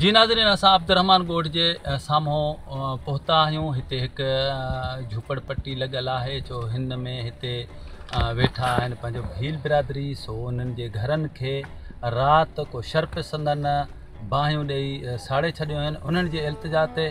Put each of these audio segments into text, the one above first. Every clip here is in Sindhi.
جي ناظرين اسان عبدالرحمان ڳوٺ جي سامهون پهتا آهيون هتي هڪ جهوپڙ پٽي لڳل آهي جو هن ۾ هتي ويٺا آهن پنهنجو ڀيل برادري سو انهن جي گهرن کي رات ڪو شرپسندن باهيون ڏئي ساڙي ڇڏيو آهن انهن جي التجا تي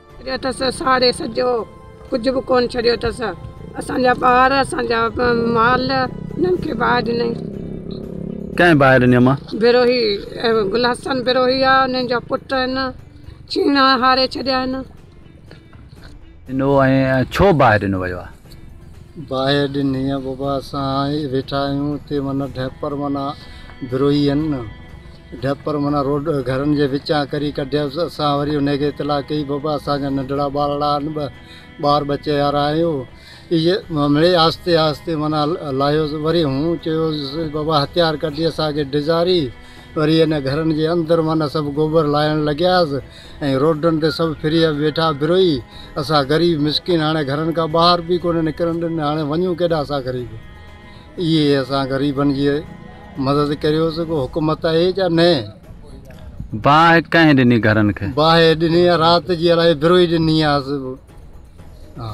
ڪريو اٿس ساڙي سڄو ڪجهه به ڪون ڇڏيو اٿس اسان جا ٻار اسان جا مال انهن کي باهه ڏني ڪنهن باهه ڏني اما بروهي گل حسن بروهي آ انهن جا پٽ آهن چيڻا هاري ڇڏيا آهن انو ۽ ڇو باهه ڏنو ويو آ باهه ڏني آ بابا اسان ويٺا آهيون تي من ڍيپر من بروهي آهن ڍپر معنيٰ روڊ گهرن جي وچان ڪري ڪڍيس. اسان وري انهي کي اطلاع ڪئي، بابا اسان جا ننڍڙا ٻارڙا آهن، ٻه ٻار ٻچي وارا آهيون. اهي مڙئي آهستي آهستي معنيٰ لاهيوس. وري هون چيوس، بابا هٿيار ڪڍي اسان کي ڊيڄاري. وري انهن گهرن جي اندر معنيٰ سڀ گوبر لاهڻ لڳياس ۽ روڊن تي سڀ ڦري ويٺا بروهي. اسان غريب مسڪين هاڻي گهرن کان ٻاهر به ڪونه نڪرڻ ڏني. هاڻي وڃون ڪيڏانهن اسان غريب. اهي اسان غريبن جي مدد ڪريو سو ڪو حڪومت آهي جا نه. باهه ڪنهن ڏني گهرن کي. باهه ڏني آ رات جي الاهي بروهي ڏني آ ها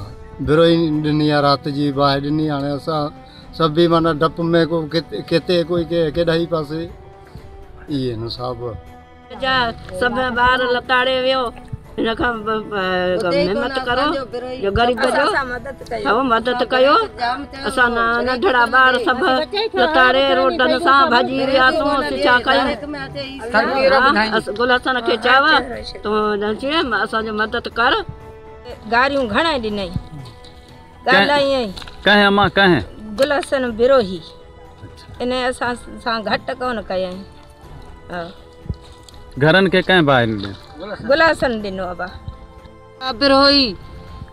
بروهي ڏني آ رات جي باهه ڏني هاڻي اسان سڀ ئي معنيٰ ڊپ ۾ ڪو ڪتي ڪوئي ڪيڏائي پاسي اهي نو صاحب. جا سڀ ٻار لتاڙي ويو ان کان محنت ڪرو جو غريب جو ٿو مدد ڪيو اسان ننڍڙا ٻار سڀ لتاڙي روٽن سان ڀڄي وياسون اسين ڇا ڪيون گل حسن کي چاوا تون اسان جو مدد ڪر گاريون گھڻا ڏنائين ڳالهائين ڪنهن اما ڪنهن گل حسن بروهي ان اسان سان گھٽ ڪونه ڪيائين گهرن کي ڪنهن باهه ڏنو؟ گلاسن ڏنو ابا. قادر هوئي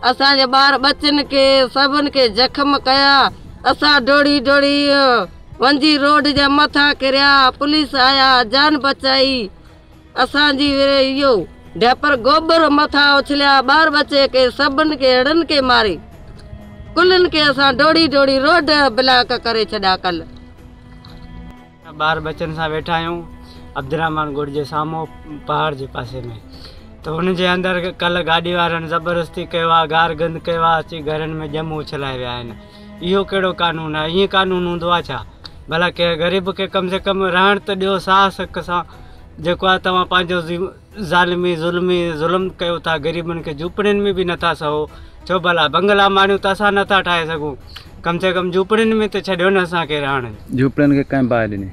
اسان جي ٻار ٻچن کي سڀن کي زخم ڪيا اسان ڊوڙي ڊوڙي ونجي روڊ جي مٿان ڪريا پوليس آيا جان بچائي اسان جي وري اهو ڊيپر گوبر مٿان اڇليا ٻار ٻچي کي سڀن کي هڙن کي ماري ڪلن کي اسان ڊوڙي ڊوڙي روڊ بلاڪ ڪري ڇڏيا ڪل اسان ٻار ٻچن سان ويٺا آهيون عبدالرحمان ڳوٺ جي سامهون پهاڙ جي پاسي ۾ ته ان جي اندر ڪلهه گاڏي وارن زبردستي ڪيو آهي گار گند ڪيو آهي اچي گهرن ۾ ڄم اڇلائي ويا آهن اهو ڪهڙو قانون آهي ائين قانون هوندو آهي ڇا ڀلا ڪنهن غريب کي ڪم سي ڪم رهڻ ته ڏيو ساهه سڪ سان جيڪو آهي توهان پنهنجو ظالمي ظلمي ظلم ڪيو ٿا غريبن کي جهوپڙين ۾ به نٿا سهو ڇو ڀلا بنگلا ماڙيون ته اسان نٿا ٺاهي سگهون ڪم سي ڪم جهوپڙين ۾ ته ڇڏيو نه اسانکي رهڻ جهوپڙين کي ڪنهن باهه ڏني.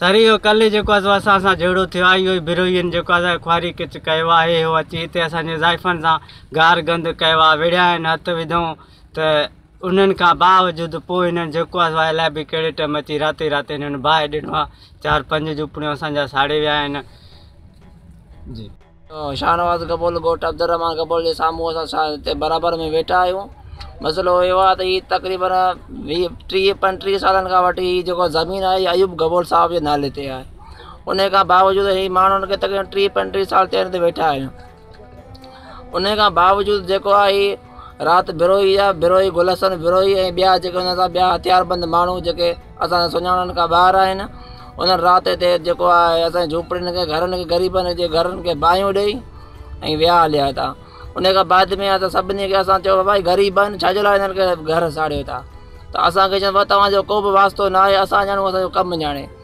سر اهو ڪلهه جيڪو آهي سو اسان سان جهيڙو ٿيو آهي اهو ئي بروهين جيڪو آهي سو خواري ڪچ ڪيو آهي اهو اچي هتي اسانجي زائفن سان گار گند ڪيو آهي وڙهيا آهن هٿ وڌئون ته انهن کان باوجود پوء هنن جيڪو آهي سو الائي به ڪهڙي ٽئم اچي راتو ئي رات هنن باهه ڏنو آهي. چار پنج جهوپڙيون اسان جا ساڙي ويا آهن. جي. شاهنواز گبول ڳوٺ عبدالرحمان گبول جي سامهون اسان سان هتي برابر ۾ ويٺا آهيون. مسئلو اهو آهي ته هي تقريبن ويهه ٽيهه پنجٽيهه سالن کان وٺي هي جيڪو زمين آهي هي ايوب گبول صاحب جي نالي تي آهي. انهي کان باوجود هي ماڻهن کي تقريبن ٽيهه پنجٽيهه سال ٿيا آهن هتي ويٺا آهيون. انهيء کان باوجود جيڪو آ هي رات بروهي آ بروهي گل حسن بروهي ۽ ٻيا جيڪي هن سان ٻيا هٿيار بند ماڻهو جيڪي اسان سان سڃاڻن کان ٻاهر آهن انهن رات هتي جيڪو آهي اسان جي جهوپڙين کي گهرن کي غريبن جي گهرن کي باهيون ڏئي ۽ ويا هليا هتا انهيء کان بعد ۾ اسان سڀني کي اسان چيو بابا هي غريب آهن ڇا جي لاء هنن کي گهر ساڙيو ٿا ته اسان کي چيو بابا توهان جو ڪو به واسطو ناهي اسان ڄاڻون اسان جو ڪم ڄاڻي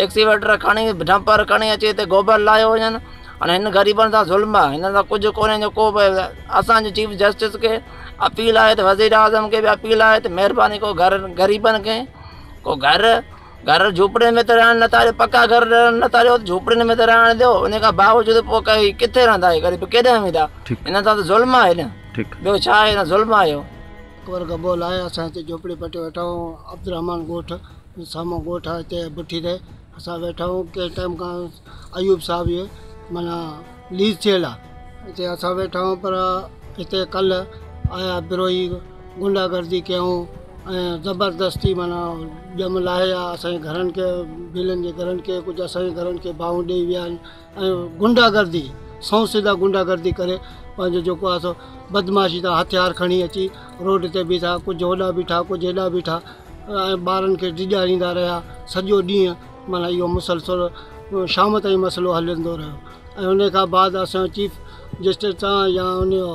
ايڪسيويٽر کڻي ڊمپر کڻي اچي هتي گوبر لاهيو وڃن هاڻي هن غريبن سان ظلم آهي هنن سان ڪجهه ڪونهي جو ڪو به اسانجي چيف جسٽس کي اپيل آهي ته وزير اعظم کي بي اپيل آهي ته مهرباني ڪو گهر غريبن کي ڪو گهر گهر جھوپڙين ۾ ته رهڻ نه ٿا ڏيو پڪا گهر رهڻ نه ٿا ڏيو جھوپڙين ۾ ته رهڻ ڏيو ان کان باوجود پوء ڪهي ڪٿي رهندا هي غريب ڪيڏانهن ويندا هنن سان ته ظلم آهي نه ٻيو ڇا آهي نه ظلم آهي اهو اڪبر گبول آهي اسان هتي جھوپڙي پٽي ويٺا آهيون عبدالرحمان ڳوٺ سامهون ڳوٺ آهي اتي بٺي تي اسان ويٺا آهيون ڪنهن ٽائيم کان ايوب صاحب جي معنيٰ ليز ٿيل آهي اتي اسان ويٺا آهيون پر اتي ڪلهه آيا بروهي غنڊا گردي ڪيائون ۽ زبردستي معنيٰ ڄام لاهي ويا اسان جي گهرن کي ڀيلن جي گهرن کي ڪجهه اسان جي گهرن کي باهون ڏيئي ويا آهن ۽ غنڊا گردي سنئون سدا غنڊا گردي ڪري پنهنجو جيڪو آهي سو بدمعاشي سان هٿيار کڻي اچي روڊ تي بيٺا ڪجهه هوڏا بيٺا ڪجهه هيڏا بيٺا ۽ ٻارن کي ڊيڄاريندا رهيا سڄو ڏينهن معنيٰ اهو مسلسل شام تائين مسئلو هلندو رهيو ۽ ان کان بعد اسان چيف جسٽس سان يا ان جو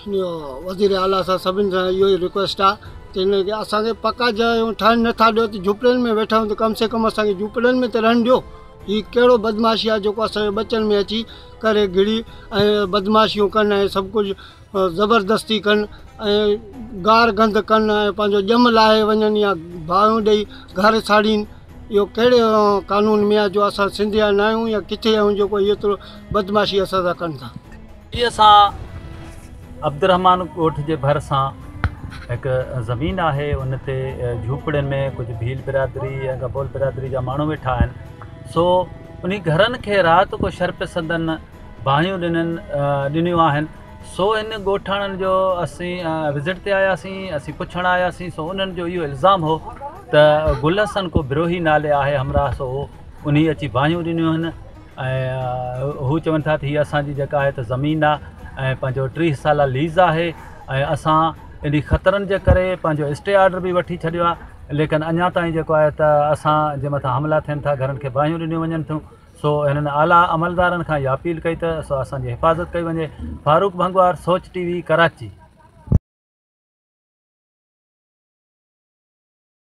وزير اعليٰ سان سڀني سان اهو ئي رڪويسٽ آ ته هن کي اسان کي پڪا جايون ٺاهڻ نه ٿا ڏيو ته جهوپڙين ۾ ويٺا آهيون ته ڪم سي ڪم اسان کي جهوپڙين ۾ ته رهڻ ڏيو هي ڪهڙو بدمعاشي آ جيڪو اسان جي ٻچن ۾ اچي ڪري گهڙي ۽ بدمعاشيون ڪن ۽ سڀ ڪجهه زبردستي ڪن ۽ گار گند ڪن ۽ پنهنجو ڄم لاهي وڃن يا باهيون ڏئي گهر ساڙين اهو ڪهڙي قانون ۾ آ جو اسان سنڌيا نه آهيون يا ڪٿي آهيون جيڪو ايترو بدمعاشي اسان سان ڪن ٿا جي اسان عبدالرحمان ڳوٺ جي ڀرسان هڪ زمين آهي ان تي جهوپڙين ۾ ڪجهه ڀيل برادري يا گبول برادري جا ماڻهو ويٺا آهن سو انهي گهرن کي رات ڪو شر پسندن باهيون ڏنن ڏنيون آهن سو ان ڳوٺاڻن جو اسين وزٽ تي آياسين اسين پڇڻ آياسين سو انهن جو اهو الزام هو ته گل حسن ڪو بروهي نالي آهي همراهه سو انهي اچي باهيون ڏنيون آهن ۽ هو چون ٿا ته هي اسان جي جيڪا آهي ته زمين آهي ۽ پنهنجو ٽيهه سالا ليز آهي ۽ اسان انهي خطرن جي ڪري پنهنجو اسٽي آرڊر بي وٺي ڇڏيو آهي ليڪن اڃا تائين جيڪو آهي ته اسان جي مٿان حملا ٿين ٿا گهرن کي باهيون ڏنيون وڃن ٿيون سو هنن اعليٰ عملدارن کان اها اپيل ڪئي ته سو اسان جي حفاظت ڪئي وڃي فاروق ڀنگوار سوچ ٽي وي ڪراچي